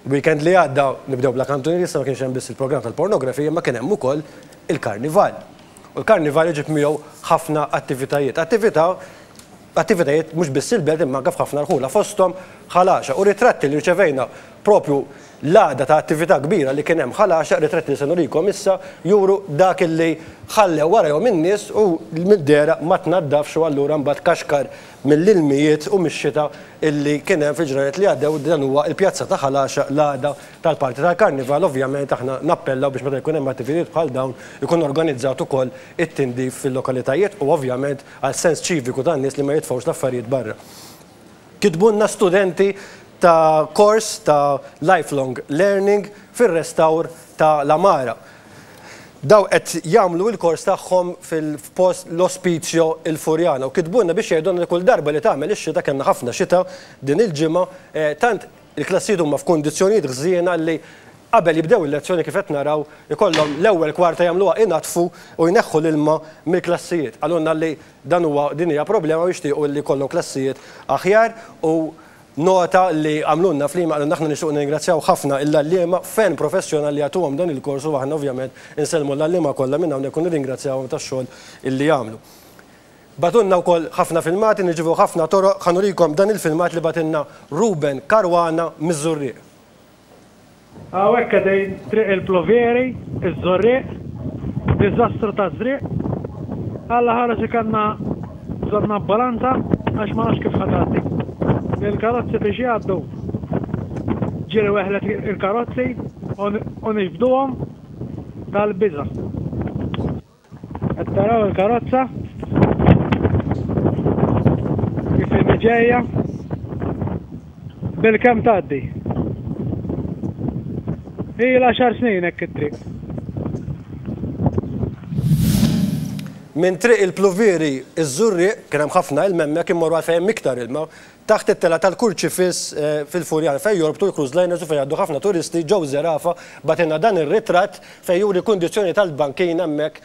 Weekend li għadda nibdew bla kantunieri issa ma kienx hemm biss il-programm tal-pornografija imma kien hemm ukoll il-karnival. U l-karnival iġib miegħu ħafna attivitajiet. Attività attivitajiet mhux biss il-belt imma anke f'ħafna rħula fosthom Ħal Għaxaq u ritratti li rċevejna propju l-għada ta' attività kbira li kien hemm Ħal Għaxaq, ritratti li se nurikom issa, juru dak illi ħallew warajhom in-nies u l-middera ma tnaddafx u allura mbagħad kaxkar mill-ilmijiet u mix-xita illi kien hemm fil-ġranet li għaddew dan huwa il-pjazza ta' Ħal Għaxaq l-għada tal-party tal-karnival ovvjament aħna nappellaw biex meta jkun hemm attivitijiet bħal dawn ikun organizzat ukoll it-tindif fil-lokalitajiet u ovvjament għal sens ċiviku tan-nies li ma jitfgħux l-affarijiet barra. Kitbulna studenti ta' kors ta' Lifelong Learning fir-restawr ta' l-għamara. Dawk qed jagħmlu il-kors tagħhom f'post l-Ospizio il Furjana u kitbulna biex jgħidulna li kull darba li tagħmel ix-xita, kellna ħafna xita din il-ġimgħa, tant il-klassijiet huma f'kundizzjonijiet ħżiena li qabel jibdew il-lezzjoni kif qed naraw ikollhom l-ewwel kwarta jagħmluha inaddfu u jneħħu l-ilma mill-klassijiet. Qalulna li dan huwa din hija problema u jixtiequ li jkollhom klassijiet aħjar u Nota li għamlulna fl-email qalulna aħna nixtiequ nirringrazzjaw ħafna il-għalliema ferm professjonal li jagħtuhom dan il-kors u aħna ovvjament insellmu l-għalliema kollha minn hawnhekk u nirringrazzjawhom tax-xogħol li jagħmlu. Bagħtulna wkoll ħafna filmati, nirċievu ħafna toroq, ħa nurikom dan il-filmat li bagħtilna Ruben Caruana miż-Żurrieq. Hawnhekk qegħdin Triq il-Pluvieri, iż-Żurrieq, diżastru taż-żrieq. Alla ħares ikanna bżonn ambulanza għax ma nafx kif ħa tgħaddi. Il-karozzi biex jgħaddu ġiri weħlet il-karozzi u nixbduhom tal-biża'. Qed taraw il-karozza kif inhi ġejja bilkemm tgħaddi. Ilha għaxar snin hekk it-triq. Minn Triq il-Pluvieri, iż-Żurrieq, kien hemm ħafna ilma hemmhekk, imorru għal fejn hemm iktar ilma, Taħt it-telgħa tal-Kurċifiss fil-Furjan, fejn jorbtu l-cruise liners u fejn jgħaddu ħafna turisti, Joe Zerafa bagħtilna dan ir-ritratt fejn juri kundizzjoni tal-bankina hemmhekk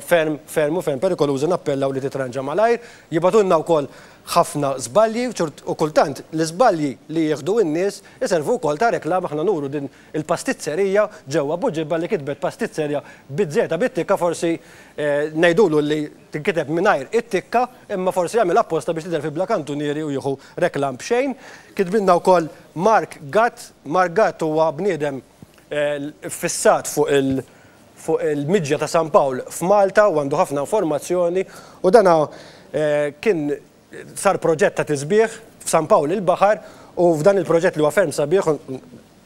ferm, ferm u ferm perikoluża nappellaw li titranġa malajr. Jibgħatulna wkoll ħafna żbalji u kultant l-iżbalji li jieħdu n-nies iservu wkoll ta' reklama aħna nuru din il-pastizzerija ġewwa Buġibba li kitbet pastizzerja biż-żieda bit-tikka forsi ngħidulu li tinkiteb mingħajr it-tikka imma forsi għamilha apposta biex tidher fil-bla kantunieri u jieħu reklam b'xejn. Kitbilna wkoll Mark Gatt, Mark Gatt huwa bniedem iffissat fuq il fuq il-miġja ta' San Pawl f'Malta u għandu ħafna informazzjoni u dana kien sar proġett ta' tisbiħ f'San Pawl il-Baħar u f'dan il-proġett li huwa ferm sabiħ u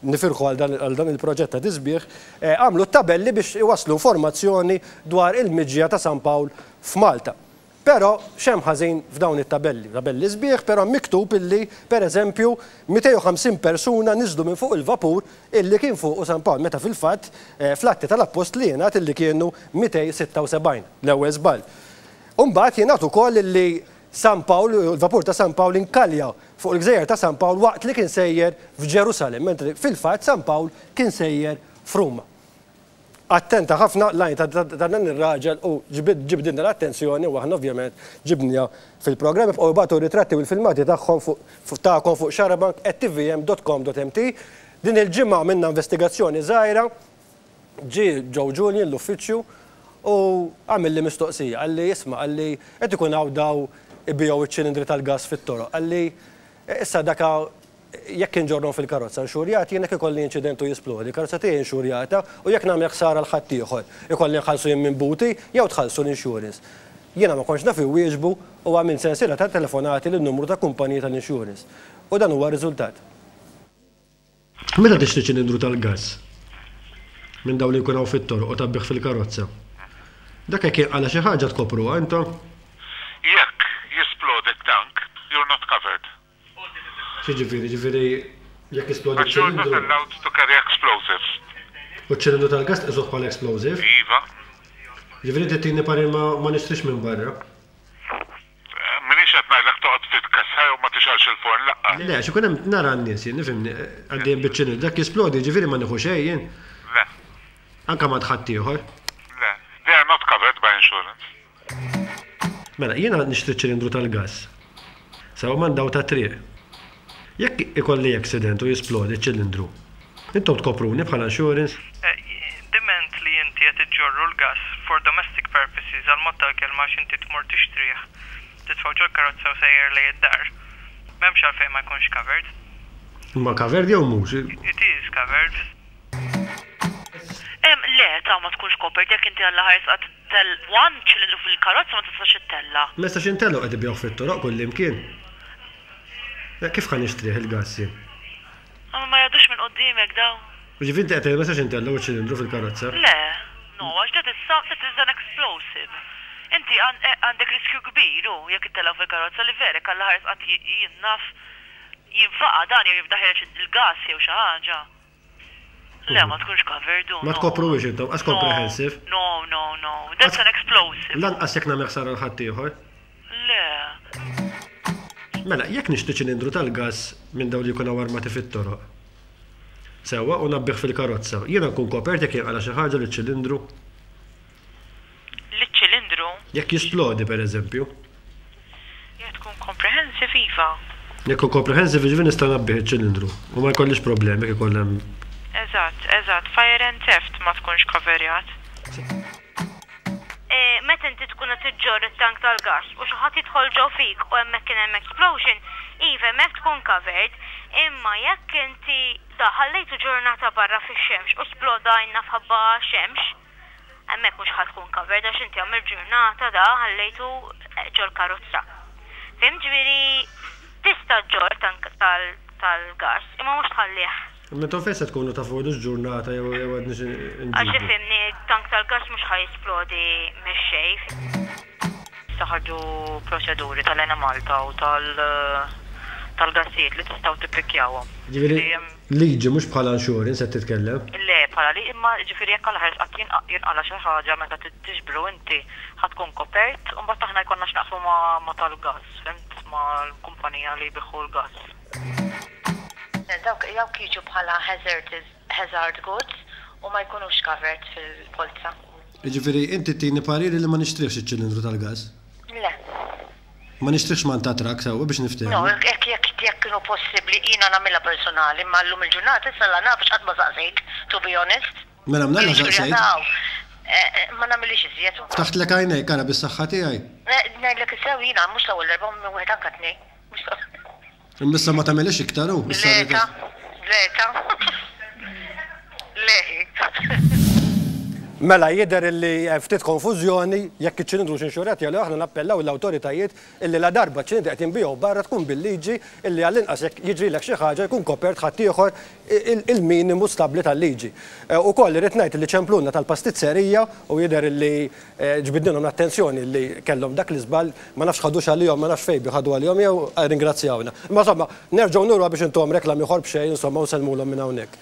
nifirħu għal dan il-proġett ta' tisbiħ, għamlu t-tabelli biex iwasslu informazzjoni dwar il-miġja ta' San Pawl f'Malta. Però x'hemm ħażin f'dawn it-tabelli? Tabelli sbieħ, però hemm miktub illi, pereżempju, 250 persuna niżlu minn fuq il-vapur illi kien fuqu San Pawl, meta fil-fatt fl-Atti tal-Appostli jingħad illi kienu 276. L-ewwel żball. U mbagħad jingħad ukoll illi San Pawl, il-vapur ta' San Pawl inkalja fuq il-gżejjer ta' San Pawl waqt li kien sejjer f'Ġerusalemm, mentri fil-fatt San Pawl kien sejjer f'Ruma. Attenta ħafna l-għajn ta' dan ir-raġel u ġbidilna l-attenzjoni u aħna ovvjament ġibniha fil-programm. Ibqgħu ibagħtu r-ritratti u l-filmati tagħhom fuq tagħkom fuq xarabank@tvm.com.mt. Din il-ġimgħa għamilna investigazzjoni żgħira. Ġie Joe Julian l-uffiċċju u għamilli mistoqsija. Qalli, Isma', qalli, qed ikun hawn daw ibigħu iċ-ċilindri tal-gass fit-toroq. Qalli, Issa daka jekk inġorrhom fil-karozza nxurjat jien jekk ikolli inċident u jisplodi, il-karozza tiegħi inxurjata u jekk nagħmel ħsara 'l ħaddieħor, ikolli nħallsu jien minn buti jew tħallsu l-insurance? Jiena ma kontx naf inwieġbu u għamilt sensiela ta' telefonati lin-numru ta' kumpaniji tal-insurance. U dan huwa r-riżultat. Meta tixtri ċilindru tal-gass minn dawn li jkun hawn fit-toroq u tgħabbih fil-karozza, dak jekk jinqala' xi ħaġa tkopruha intom? Jekk jisplodi t-tank, you're not covered. X'jiġifieri? Jiġifieri jekk jisplodi ċ-ċilindru. Għax you're not allowed to carry explosives. U ċ-ċilindru tal-gass tqisuh bħala explosive? Iva. Jiġifieri trid tini parir ma nixtrix minn barra? M'iniex qed ngħidlek toqgħod titkessha jew ma tixgħelx il-forn laqqas. Le, għax ikun hemm, nara n-nies jien, ifhimni, għaddejjin biċ-ċinil, dak jisplodi, jiġifieri ma nieħux xejn jien? Le. Anke m'għand ħaddieħor? Le. They are not covered by insurance. Mela, jiena nixtri ċ-ċilindru tal-gass. Sewa m'għand dawl tat-triq. Jekk ikolli accident u jisplodi ċ-ċilindru, intom tkopruni bħala insurance? Diment li inti qed iġġorru l-gass for domestic purposes għall-mod tal-kelma għax inti tmur tixtrih, titfgħu ġol-karozza u sejjer lejn id-dar, m'hemmx għalfejn ma jkunx covered. Imma covered jew mhux? It is covered. Le, ta' ma tkunx copered jekk inti għall-aħħar issa qed one ċilindru fil-karozza ma tistax ittella'. Ma nistax intella' u qed ibigħuh fit-toroq kullimkien. Kif ħa nixtrih il-gass jien? Imma ma jgħaddux minn quddiemek dawn. Jiġifieri inti qed tgħid ma jistax intellgħu ċ-ċilindru fil-karozza? Le. No, għax that is some, that is an explosive. Inti għandek riskju kbir, hu, jekk ittellgħu fil-karozza li verek Alla ħares qatt jien naf jinfaqa' dan jew jibda ħereġ il-gass jew xi ħaġa. Le, ma tkunx covered, oh no. Ma tkopruhiex intom, għax comprehensive. No, no, no, no. That's an explosive. Lanqas jekk nagħmel ħsara l-ħaddieħor. Le. Mela, jekk nixtieq ċilindru tal-gass minn dawn li jkunu armati fit-toroq, sewwa u nabbih fil-karozza. Jiena nkun kopert jekk jinqala xi ħaġa li ċilindru? liċ-ċilindru. Jekk jisplodi, per eżempju. Jekk tkun comprehensive, iva. Jekk tkun comprehensive, jiġifieri nista' ngħabbih iċ-ċilindru u ma jkollix problemi jekk ikun hemm. Eżatt, eżatt, fire and theft ma tkunx coverjat. Meta inti tkun qed iġġorr it-tank tal-gass u xi ħadd jidħol ġo fik u hemmhekk kien hemm explosion, iva hemmhekk tkun covered, imma jekk inti daħal ħallejtu ġurnata barra fix-xemx u sploda għajnna f'ħabba xemx, Hemmhekk mhux ħa tkun covered għax inti għamilt ġurnata da ħallejtu ġol-karozza. Fhimt? Ġifieri tista' ġġorr tank tal-gass imma mhux tħallih. Imma intom fejn se tkunu tafu ilux ġurnata jew għadniex inġibu? Għax ifhimni, tank tal-gass mhux ħa jisplodi mix-xejn. Issa ħarġu proċeduri tal-Enemalta u tal-gassijiet li tistgħu tippikkjawhom. Ġifieri. Liġi, mhux bħala insurance qed titkellem? Le, bħala li, imma jiġifieri jekk għall-aħħar qatt jinqala xi ħaġa meta tiġbru inti ħa tkun kopert u mbagħad aħna jkollna x'naqsmu ma' tal-gass, fhimt, mal-kumpanija li jbiħħu l-gass. Dawk jiġu bħala hazard goods u ma jkunux covered fil-polza. Jiġifieri inti tini pariri li ma nixtrihx iċ-ċilindru tal-gass? Le. Ma nixtrix manta trakk sewwa biex niftehmu. No, hekk jekk jekk kienu possibbli jiena nagħmilha personali imma llum il-ġurnata issa la nafx qatt ma saqsejt to be honest. Mela mnalla saqsejt. Ma nagħmilhiex iżjed. Ftaħtlek għajnejk ara bis-saħħa tiegħi. Ngħidlek is-sew jiena mhux l-ewwel darba u minn wieħed anke tnejn. Imma issa ma tagħmilhiex iktar hu. Le ta. Le ta. Le hi. Mela jidher illi hemm ftit konfużjoni, jekk iċ-ċilindru hux inxurat jew le, aħna nappellaw lill-awtoritajiet illi ladarba ċ-ċilindri qed jinbiegħu barra tkun bil-liġi illi għall-inqas jekk jiġrilek xi ħaġa jkun kopert ħaddieħor il-minimu stabbli tal-liġi. Ukoll irrid ngħid illi ċempluna tal-pastizzerija u jidher illi Ġbidnilhom l-attenzjoni li kellhom dak l-iżball, ma nafx ħadux għalihom, ma nafx fejn biex ħadu għalihom jew rringrazzjawna. Imma insomma, nerġgħu nuruha biex intuhom reklam ieħor b'xejn insomma u nsellmulhom minn hawnhekk.